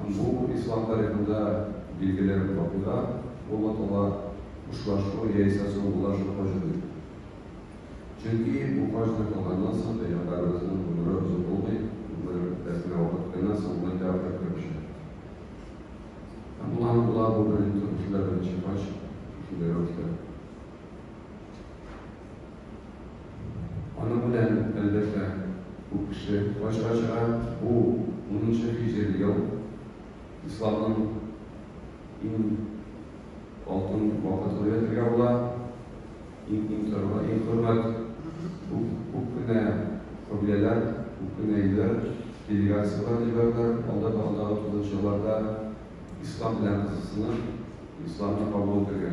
Һәм бу ислам тарихында билгеле вакыйга булып кала, хушлашу яисә соңгылашу хаҗы дип. Чөнки бу хаҗны кылганнан соң пәйгамбәребезнең гомере озын булмый, гомере үткәнчә вакыт кына соңгы тәвәккәл керешә. Һәм була һәм була бу беренче кешеләр беренче хаҗ шушындый рәвештә. Аның белән, әлбәттә, күп кеше фаҗига чыгара. Бу унынчы һиҗри ел, исламның иң алтын вакыты дип әйтергә була. Иң-иң торлы, иң хөрмәт, күп кенә кабиләләр, күп кенә илләр делегацияләр җибәрделәр, алда да алдагы тугызынчы елларда ислам белән кызыксынып, исламны кабул итергә.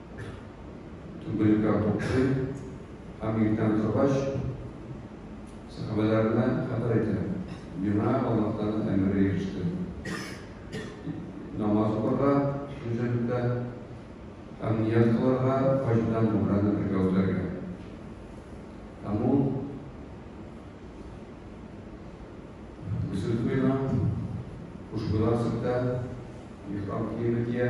түгелергә куркый һәм иртән торгач, сәхабәләренә хәбәр итә. Миңа Аллаһ Тәгалә әмере иреште. Намаз укырга Мөҗәһиддә һәм ният кылырга хаҗдан умраны бергә үтәргә. Һәм ул Гөсел куена, хушбуйлар сөртә, ихрам киеме кия.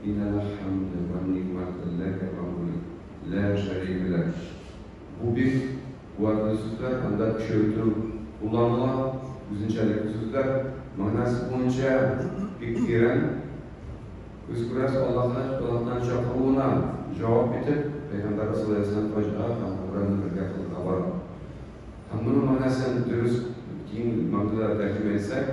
Иннәл хәмде вәл нигъмәте ләкә Мавлый, лә шәрика ләк. Бу бик куәтле сүзләр, анда көчәйтү кулланыла. Үзенчәлекле сүзләр, мәгънәсе буенча бик тирән. Без күрәбез, Аллаһны Итагатьнең чакыруына җавап итеп, Пәйгамбәребез саллаллаһу галәйһи ва сәлләм хаҗга һәм Гомрәне бергә кылырга бара. Һәм моның мәгънәсен дөрес, киң мәгънәдә тәрҗемә итсәк.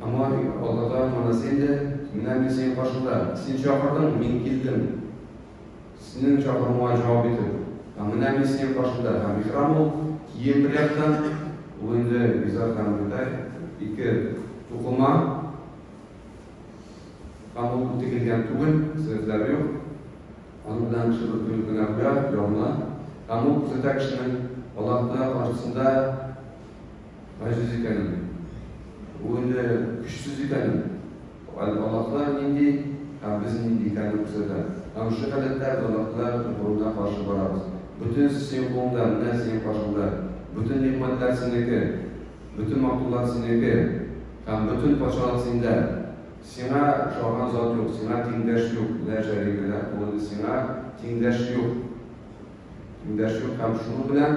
Аңа бик алдаган манасен дә, Менә мин синең каршыңда. Син чакырдың, мин килдем. Синең чакыруыңа җавап итеп. Һәм менә мин синең каршыңда. Һәм ихрам ул, кием бер яктан, ул инде изар һәм ридай, ике тукыма, һәм ул тегелгән түгел, сәләтләре юк, аның белән кеше бер көнлек генә куя, ябына, һәм ул күрсәтә кешенең Аллаһ Тәгалә каршысында Газиз икәнме? Бу инде көчсез икәнме? Галбалаклар нинди һәм без нинди икәнне күрсәтә. Һәм шул гадәтләр, гадәтләр угрына каршы барабыз. Бөтен эш синең кулыңда, менә синең каршыңда. Бөтен нигъмәтләр синеке, бөтен матурлык синеке һәм бөтен патшалык синдә. Сиңа охшаган зат юк, сиңа тиңдәш юк, лә шәрика ләһ, ул инде сиңа тиңдәш юк. Эндәшү һәм шуу белән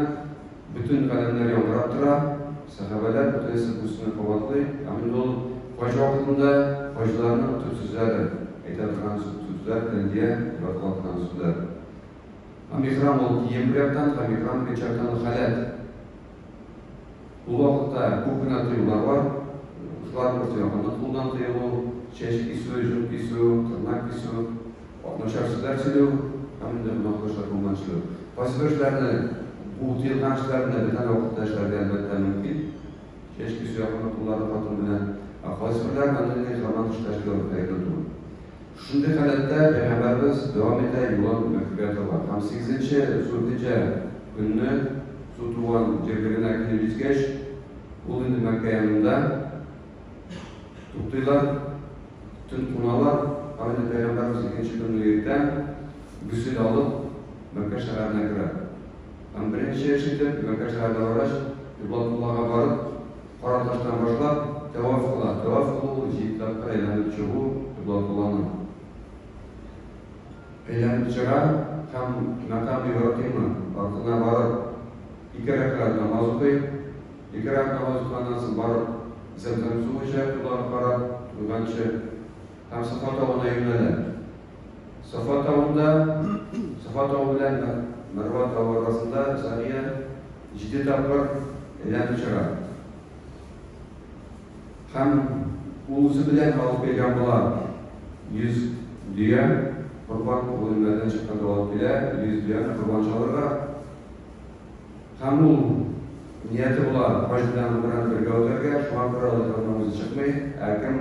бөтен галәмнәр яңгырап тора, сәхабәләр бөтенесе буй-сынны кабатлый, һәм инде ул хаҗ вакытында хаҗиларның төп сүзләрдер, әйтә торган сүзләр, тәлбия, дип атала торган сүзләр. Һәм ихрам ул кием бер яктан, һәм ихрам икенче яктан ул халәт. Ул вакытта күп кенә тыюлар бар. Шулар бер тояганы кулдан тыелу, чәч кисү, җон кисү, тырнак кисү, начар сүзләр сөйләү һәм инде гөнаһлы эшләр кулыннан эшләү. Кайсы бер эшләрне, бу тыелган эшләрне дә без әле вакытта эшләргә әлбәттә мөмкин. Чәч кисү якында кулларны катыру белән. Ә кайсы берләрен әллә нинди жаман эшләр эшләү хәерле түгел. Шундый халәттә Пәйгамбәребез дәвам итә юлын Мәккәгә таба һәм сигезенче Зулхиҗә көнне Зу Туан җирлегенә килеп җиткәч, ул инде Мәккә янында туктыйлар, төн куналар. Һәм инде Пәйгамбәребез икенче көнне иртән гөсел алып, Мәккә шәһәренә керә. Һәм беренче эш итеп, Мәккә шәһәренә баргач, Кыйблатуллага барып, Кара таштан башлап, тәваф кыла. Тәваф кылу ул җиде тапкыр әйләнеп чыгу, кыйблатулланы әйләнеп чыга һәм Мәкам Ибраһимы артына барып, ике рәкәгать намаз укый. Ике рәкәгать намаз укыганнан соң барып, Зәмзәм суы эчә, коблага карап, юганчы. һәм Сафа тавына юнәлә. Сафа тавында, Сафа тавы белән Мәрва тавы арасында Сания җиде тапкыр әйләнеп чыга. Һәм ул үзе белән алып килгән була. Йөз дөя корбан ул үлемнәрдән чыкканда алып килә, йөз дөяне корбан чалырга. Һәм ул нияте була, гражданнар белән бергә үтәргә, шуңа күрә ул ихрамнан үзе чыкмый, ә кем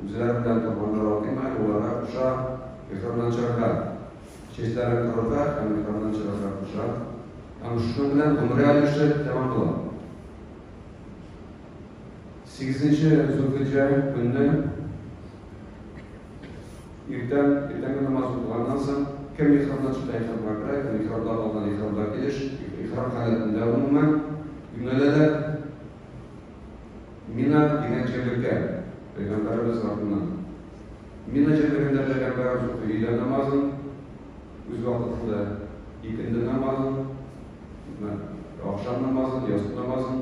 үзләре белән корбаннар атыймы, аларга куша ихрамнан чыгарга, чәчләрен корырга һәм ихрамнан чыгарга куша. Һәм шуның белән гомрә өлеше тәмам була. Сигезенче Зулхиҗҗә көнне Иртән, иртәнге намаз укылганнан соң, кем ихрамдан чыкса ихрамга керә, кем ихрамда калган ихрамга килеш, ихрам халәтендә гомумән юнәләләр. Мина дигән җирлеккә, Пәйгамбәребез артыннан. Мина җирлегендә Пәйгамбәребез укый өйлә намазын, үз вакытында икенде намазын, ахшам намазын, ястү намазын,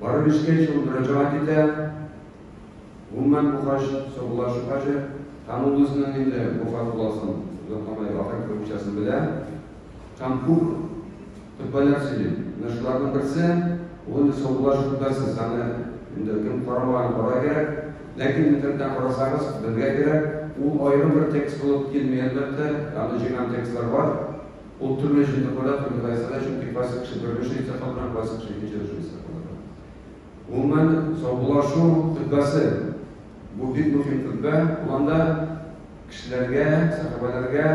Бары бишкәч ул мөрәҗәгать итә, гомумән бу хаҗ саубуллашу хаҗы, һәм ул үзенең инде бу фарз буласын, озакламый ахир кылмыйчасын белә, һәм күп хөтбәләр сөйли. Менә шуларның берсе, ул инде саубуллашу хөтбәсез, аны инде кем карамаган карарга кирәк, ләкин интернеттан карасагыз, белергә кирәк, ул аерым бер текст булып килми, әлбәттә, аны җыйган текстлар бар. Ул төрле җирле кунак юллайсыга, чөнки классик кеше бер кеше исә калдыра, классик кеше икенче кеше исә калдыра. Гомумән, саубуллашу хөтбәсе, бу бик мөһим хөтбә, ул анда кешеләргә, сәхабәләргә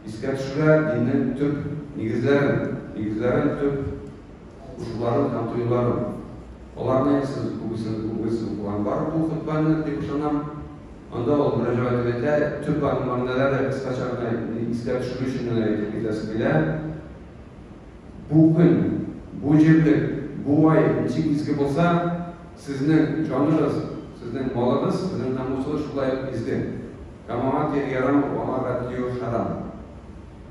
искә төшерә диннең төп нигезләрен, нигезләрен, төп кушуларын һәм тыюларын. Аларны инде сез күбесен, күбесен укыган бардыр бу хөтбәне, дип ышанам. Анда ул мөрәҗәгать итә, төп бар мәгънәләре кыскача гына искә төшерү өчен генә әйтеп китәсе килә. Бу көн, бу җирлек, бу ай ничек изге булса, сезнең җаныгыз, сезнең малыгыз, сезнең намусыгыз шулай ук изге. Камага кире ярамый, аңарга тию хәрам.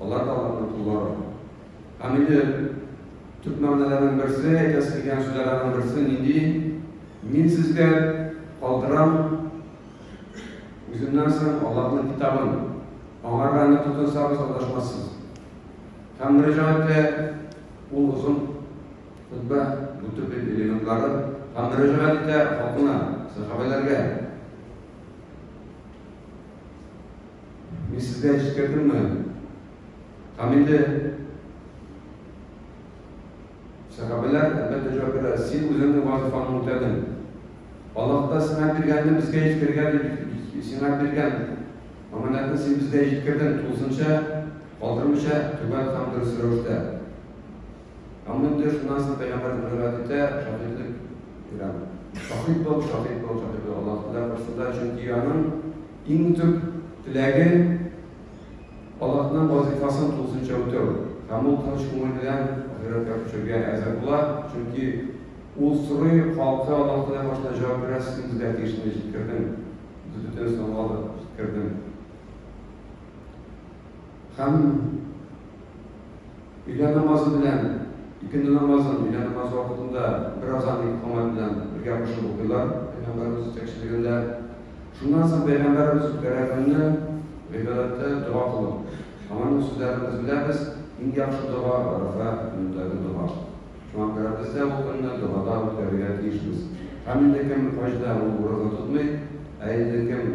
Алар да алар тотулар. Һәм инде төп мәгънәләрнең берсе, әйтәсе дигән сүзләрнең берсе нинди? Мин сезгә калдырам үземнән соң Аллаһның китабын. Аңарга аны тотынсагыз алдашмассыз. Һәм мөрәҗәгатьтә ул озын хутбә бутып элементлары һәм мөрәҗәгать итә халкына, сәхабәләргә. Мин сезгә җиткердемме? Һәм инде сәхабәләр, әлбәттә, җавап бирә, син үзеңнең вазифаңны үтәдең. Аллаһ та сиңа биргәнне безгә җиткергә дип сиңа биргән аманәтне син безгә җиткердең, тулысынча калдырмыйча, түбән һәм дөрес рәвештә. Ә мондый шунасы пәйгамбәр мөрәт итә, шаһидлек бирәм. Шаһид бул, шаһид бул, шаһид бул, Аллаһ теләп кушсында, чөнки аның иң төп теләге Аллаһның вазифасын тулысынча үтәү. Һәм ул тыныч күңел белән ахирәткә күчәргә әзер була, чөнки ул сорый, халкы Аллаһ теләп башына җавап бирә, син безгә тиешне җиткердең, без бөтенесен аңладык, җиткердең. Һәм өйлә намазы белән икенде намазын өйлә намазы вакытында бер азан итеп камат белән бергә кушып укыйлар Пәйгамбәребез җитәкчелегендә. Шуннан соң Пәйгамбәребез үткәрәгәнне гыйбадәттә дога кылу. Аңарның сүзләрен без беләбез, иң яхшы дога Арафа көнендәге дога. Шуңа күрә без дә ул көнне догада үткәрергә тиешбез. Һәм инде кем хаҗда ул ураза тотмый, ә инде кем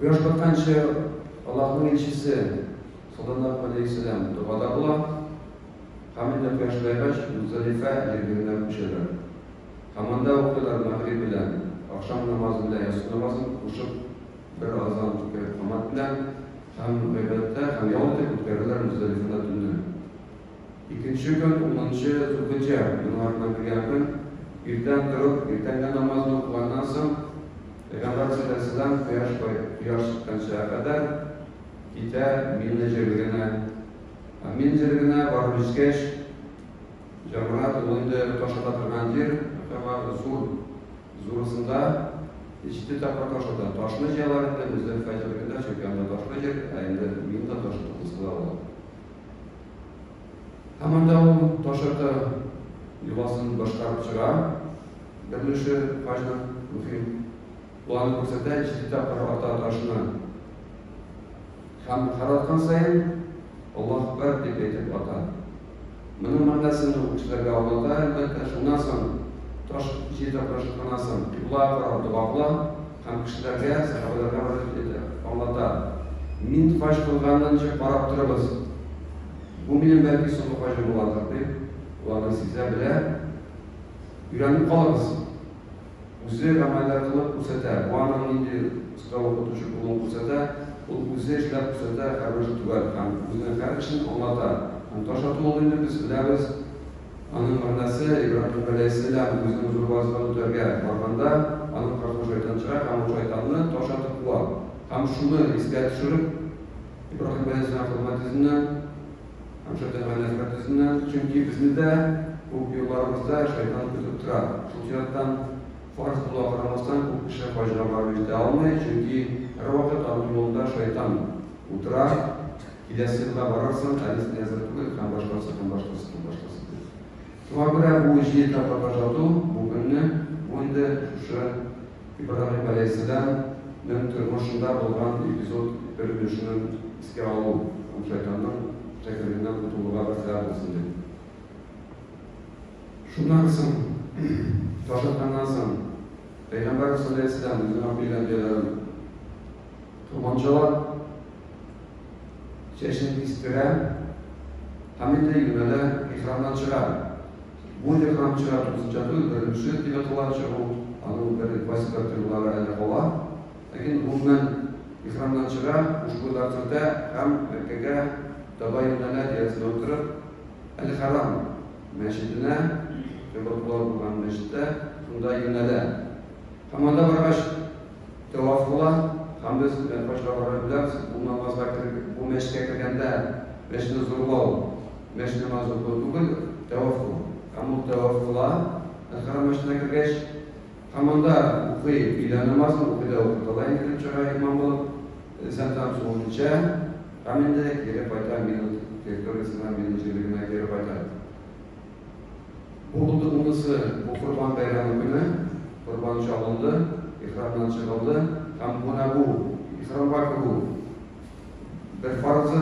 Кояш батканчы Аллаһның илчесе саллаллаһу алейхи вәсәләм догада була һәм инде кояш баегач Музалифә җирлегенә күчәләр. Һәм анда укыйлар мәгъриб белән, ахшам намазы белән ясу намазын кушып бер азан кереп камат белән һәм гыйбадәттә һәм ял итеп үткәрәләр Музалифада төнне. Икенче көн, унынчы Зулхиҗҗә, еллар Габирия көн, иртән торып, иртәнге намазны укыганнан соң, пәйгамбәр салләллаһу галәйһи ва сәлләм, кояш кояш чыкканчага кадәр китә Мина җирлегенә. Ә Мина җирлегенә барып җиткәч, җәмрат, ул инде таш ата торган җир, һәм аңа зур, зурысында җиде тапкыр таш ата. Ташны җыялар инде Мөздәлифә җирлегендә, чөнки анда ташлы җир, ә инде Минада таш атылмаска да була. Һаман да ул ташырты йоласын башкарып чыга. Беренче хаҗның мөһим планын күрсәтә, җиде тапкыр ата ташны. Һәм һәр аткан саен Аллаһ Әкбәр дип әйтеп ата. Моның мәгънәсен ул кешеләргә аңлата, әлбәттә, шуннан соң таш җиде тапкыр ышыкканнан соң кыйблага карап дога кыла. һәм кешеләргә сәхабәләргә мөрәҗәгать итә, аңлата, Мин хаҗ кылганынча карап торыгыз, бу минем бәлки соңгы хаҗым булардыр, дип, боларны сизә, белә, өйрәнеп калыгыз. Үзе гамәлләр кылып күрсәтә, бу аның нинди оста укытучы булуын күрсәтә, ул үзе эшләп күрсәтә, һәрбер эш төгәл һәм үзенең һәр эшен аңлата һәм таш ату ул инде без беләбез, Аның мәгънәсе, Ибраһим галәйһиссәлам үзенең зур вазифаны үтәргә барганда, аның картын шайтан чыра һәм ул шайтанны таш атып куа. Һәм шуны искә төшереп, Ибраһим галәйһиссәлам хезмәт йөзеннән һәм шайтанга нәфрәт йөзеннән, чөнки безне дә күп юлларыбызда шайтан көтеп тора. Шул чираттан, фарыз булуга карамастан, күп кеше хаҗга барып җитә алмый, чөнки һәрвакыт аның юлында шайтан утыра. Киләсе елда барырсың, ә без әзер түгел һәм башкасы һәм башкасы һәм башкасы дип. Шуңа күрә бу җиде тапкырга озату бу көнне, бу инде шушы Ибраһим галәйһиссәлам нең тормышында булган эпизод бер өлешенең искә алу һәм шайтанның чәкелегеннән котылуга вәсилә булсын дип. Шуннан соң, ташлытканнан соң, Пәйгамбәрбез галәйһиссәлам үзенең акыл өйрәнүчеләрен, Туганчылар чәчен кистерә һәм инде юнәлә ихрамнан чыга. Бу ихрам чыга тузыча түгел, беренче тыйгатыла чыгу, аның бер кайсы бер тыйгылары әле кала. Ләкин гомумән ихрамнан чыга, хушбуйлар сөртә һәм Мәккәгә таба юнәлә, диясенә утырып, әл-Хәрам мәчетенә, кыйблатуллар булган мәчеткә, шунда юнәлә. Һәм анда баргач. Тәваф була, Хәмдүс белән пачкалары белән бу намазга кереп, бу мәчеткә кергәндә мәчетне зурлау, мәчет намазы уку түгел, тәваф ул. Һәм ул тәваф була, Әл-Хәрам мәчетенә кергәч, һәм анда укый, өйлә намазын укый да укып ала инде кереп чыга имам булып, Зәмзәм суын эчә һәм инде кире кайта, Мина территориясенә, Мина җирлегенә кире кайта. Бу булды унысы, бу Корбан бәйрәме көне, корбан чалынды, ихрамнан чыгылды һәм менә бу, ихрамга керү. Бер фарызы,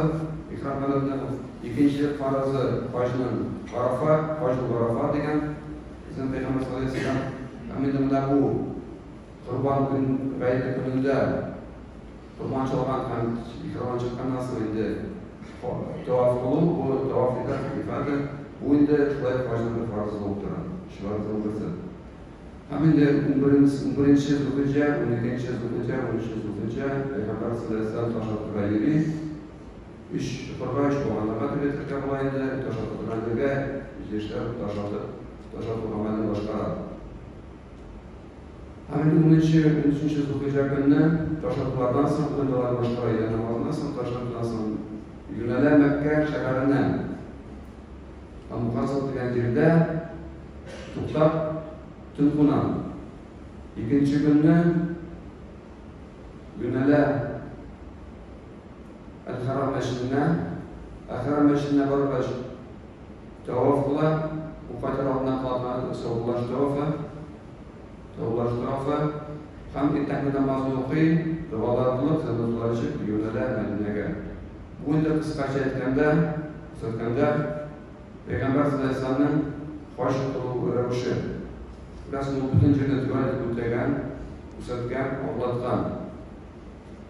ихрам һәләтнең, икенче фарызы, хаҗның, Арафа, хаҗу Арафа дигән, безнең Пәйгамбәр саллаллаһу алейһи ва сәлләм, һәм инде менә бу Корбан көн, гаете көнендә, Урманчылар һәм ветераннар чыкканнан соң инде таваф кылу, бу таваф ифада, бу инде шулай ук хаҗның бер фарызы булып тора. Шулай ук гөсел. Һәм инде унберенче зулхиҗҗә, уникенче зулхиҗҗә, унөченче зулхиҗҗә пәйгамбәр сәлләһу галәйһи ва сәлләм таш атырга йөри. Өч чокырга, өч баганага дип әйтергә була инде, таш атырга йөргәнгә, җирешләр таш атып, таш ату гамәлен башкара. Һәм унынчы, унөченче Зулхиҗә көнне ташландылардан соң, куйдылар башка өйдә намазны, соң ташландыдан соң юнәлә Мәккә шәһәренә. Амуказл дигән җирдә туктап төн куна. Икенче көнне юнәлә Әл-Харам мәчетенә, Әл-Харам мәчетенә баргач, Тарафлы Уфа тарафына калган Саубулаш тарафы, Таубулаш тарафы һәм иртәнге намазны укый, догалар кылып, җаназалар җып юнәлә Мәдинәгә. Бу инде кыскача әйткәндә, күрсәткәндә, Пәйгамбәр Сәләсәнең хаҗ кылу рәвеше. Рәсул бөтен җирне төгәл итеп үтәгән, күрсәткән, аңлаткан.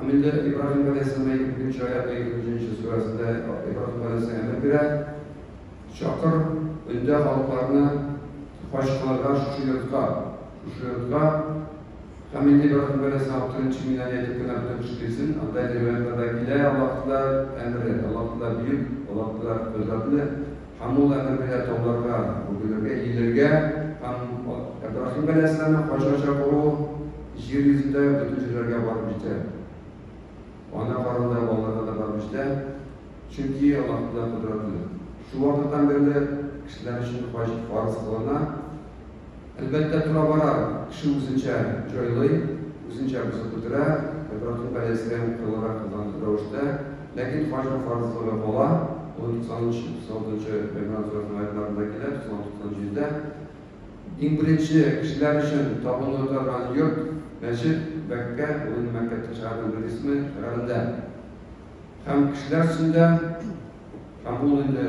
Амилдә Ибраһим галәйһиссәламгә икенче аятның икенче сүрәсендә Ибраһим галәйһиссәлам әмер бирә, Чакыр, өндә халыкларны хаҗ кылырга шушы йортка, шушы йортка. Һәм инде Ибраһим галәйһиссәлам беренче миннән әйтеп кенә бөтен кеше килсен. Анда риваятьләрдә килә, Аллаһ Тәгалә әмере, Аллаһ Тәгалә бөек, Аллаһ Тәгалә кодрәтле. Һәм ул әмер бирә тауларга бөгелергә, иелергә, һәм Әбрахим галәйһиссәламнең хаҗга чакыруы җир йөзендә бөтен җирләргә барып җитә. Ана карында балаларга да барып җитә, чөнки Аллаһ Тәгалә кодрәтле. Шул вакыттан бирле кешеләр өчен хаҗ фарыз кылына. Әлбәттә, тора-бара кеше үзенчә җайлый, үзенчә бозып бетерә, Ибраһим галәйһиссәлам кылырак кылган рәвештә. Ләкин фаҗр фарызлыгы бала, ул 93-96 нчы Гимран сүрәсенең аятьларында килә, 96-97-дә. Иң беренче кешеләр өчен табыну торган йорт, мәчет, Бәккә, ул инде Мәккәтә шәһәрнең бер исеме, шәһәрендә. Һәм кешеләр өчен дә, һәм ул инде.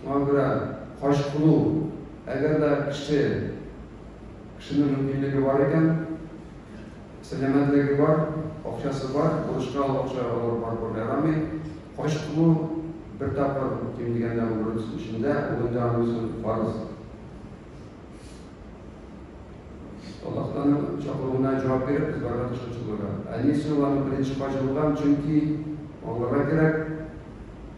Шуңа күрә хаҗ кылу, әгәр дә кеше, кешенең мөмкинлеге бар икән, сәламәтлеге бар, акчасы бар, бурычка алып акча алып барып күрергә ярамый. Хаҗ кылу бер тапкыр, ким дигәндә гомер эчендә, ул инде аның өчен фарыз. Аллаһтан чакыруына җавап биреп, без барырга тырышып чыгырга. Ә ни өчен аларның беренче хаҗы булган? Чөнки аңларга кирәк,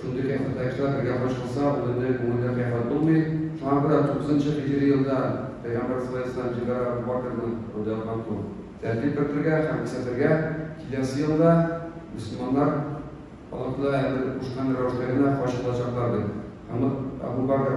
Шундый кыяфәттә кешеләр бергә кушылса, ул инде күңелдә кыяфәт булмый. Шуңа күрә тугызынчы һиҗри елда пәйгамбәр саллаллаһу алейһи ва сәлләм җиде Әбү Бәкерне андый катлау тәртип кертергә һәм исәтергә, киләсе елда мөселманнар Аллаһы Тәгалә әмер кушкан рәвештә генә хаҗ кылачаклар дип, һәм Әбү Бәкер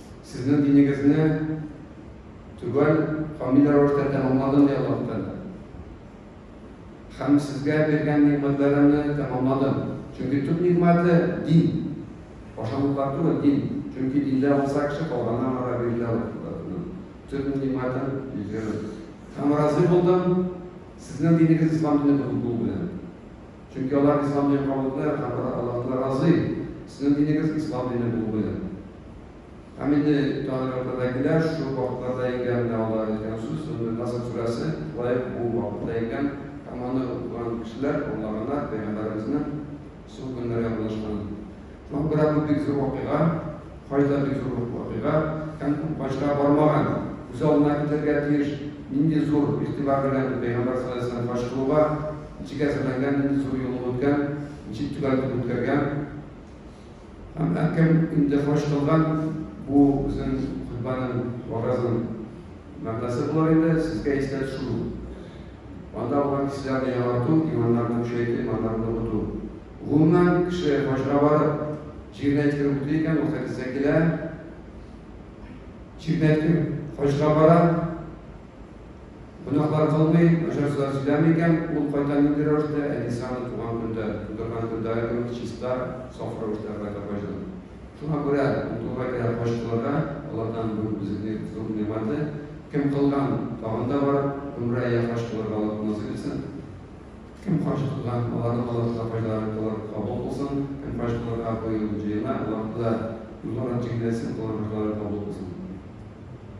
Сезнең динегезне төгәл камил рәвештә тәмамладым, ди Аллаһ Тәгалә. Һәм сезгә биргән нигъмәтләремне тәмамладым. Чөнки төп нигъмәте, дин. Ашамлыклар түгел, дин. Чөнки диндә булса, кеше калганнан ара бирелә ул. Төп нигъмәтем, йөзегез. Һәм разый булдым сезнең динегез ислам дине булу белән. Чөнки алар ислам динен кабул итмиләр, һәм алар Аллаһтан разый. Сезнең динегез ислам дине булу белән. Һәм инде таригатьтә дә килә, шул вакытларда иңгән менә алар әйткән сүз, менә Наср сүрәсе лаек бу вакытта иңгән, һәм аны укыган кешеләр, аңлаганнар, пәйгамбәребезнең соң көннәре язылышканын. Лондра бу бик зур вакыйга, кайда бик зур вакыйга һәм күп хаҗга бармаган, күз алдына китерергә тиеш, нинди зур игътибар белән Пәйгамбәр саллаллаһу алейһи ва сәлләм хаҗ кылуга ничек әзерләнгән, нинди зур юллык үткән, ничек төгәл үткәргән. Һәм әкем инде хаҗ кылган, бу безнең хутбаның вагазның мәгънәсе булыр инде, сезгә искә төшерү. Анда булган кешеләрне яңарту, иманнарны көчәйтү, иманнарны ныгыту. Гумнан кеше башына барып, җиренә тире үтли икән, ул хәдистә килә. Җиренә тире хаҗга бара, гөнаһлар кылмый, начар сүзләр сөйләми икән, ул кайта нинди рәвештә, әнисе аны туган көндә, тудырган көндә аерылып, чиста, саф рәвештә кайта хаҗдан. Шуңа күрә утуга кирәк хаҗ кылырга, алардан бу безнең зур нигъмәте. Кем кылган, тагын да барып, гомрә я хаҗ кылырга Аллаһ насыйп итсен. Кем каршы кылган, аларның алар сабыйларын болар кабул кылсын, кем каршы кылырга быел җыена, аларны да юллар һәм тиңнәрсен кылырга башларын кабул кылсын.